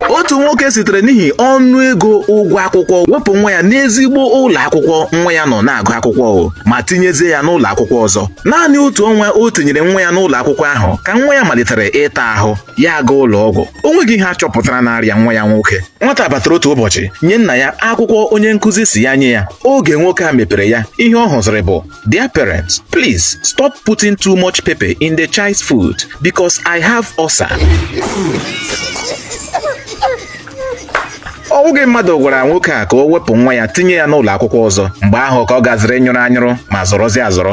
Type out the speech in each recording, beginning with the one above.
otu nwoke sitere n'ihi ọnụ ego ụgwọ akwụkwọ wepụ nwa ya n'ezigbo ụlọ akwụkwọ nwa ya nọ na-agụ akwụkwọ o ma tinyezie ya n'ụlọ akwụkwọ ọzọ naanị otu ọnwa o tinyere nwa ya n'ụlọ akwụkwọ ahụ ka nwa ya malitere ịta ahụ ya agaa ụlọ ọgwụ o nweghị ihe a chọpụtara na-arịa nwa ya nwoke nwata batara otu ụbọchị nye nna ya akwụkwọ onye nkụzi sị ya nye ya oge nwoke a mepere ya ihe ọ hụziri bụ Dear parents, please stop putting too much pepper in the child's food because I have ulcer. ọ bụghị mmadụ gwara nwoke a ka o wepụ nwa ya tinye ya n'ụlọ akwụkwọ ọzọ mgbe ahụ ka ọ gaziri nyụrụ anyụrụ ma zọrọzie azọrọ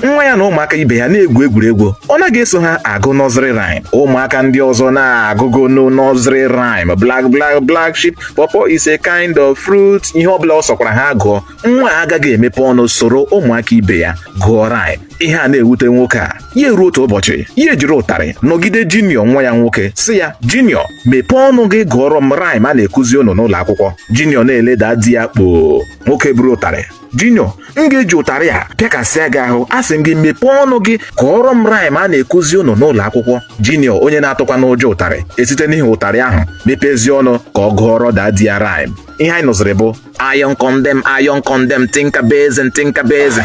nwa ya na ụmụaka ibe ya na-egwu egwuregwu ọ naghị eso ha agụ nursery rhyme ụmụaka ndị ọzọ na-agụgo no nursery rhyme bla bla black sheep pawpaw is a kind of fruit ihe ọbụla ọ sọkwara ha gụọ nwa a agaghị emepe ọnụ soro ụmụaka ibe ya gụọ rhyme ihe a na-ewute nwoke a ya eruo otu ụbọchị ya ejiri ụtarị nọgide Junior nwa ya nwoke sị ya Junior mepee ọnụ gị gụọrọ m rhyme a na-ekuzi unu n'ụlọ akwụkwọ Junior na-ele daddy ya kpoo nwoke buru ụtarị Junior m ga-eji ụtarị a pịakasịa gị ahụ asị m gị mepee ọnụ gị gụọrọ m rhyme a na-ekuzi unu n'ụlọ akwụkwọ Junior onye na-atụkwanụ ụjọ ụtarị esite n'ihi ụtarị ahụ mepezie ọnụ ka ọ gụọrọ daddy ya rhyme ihe anyị nụziri bụ Iron condemn, iron condemn, tinka basin, tinka basin.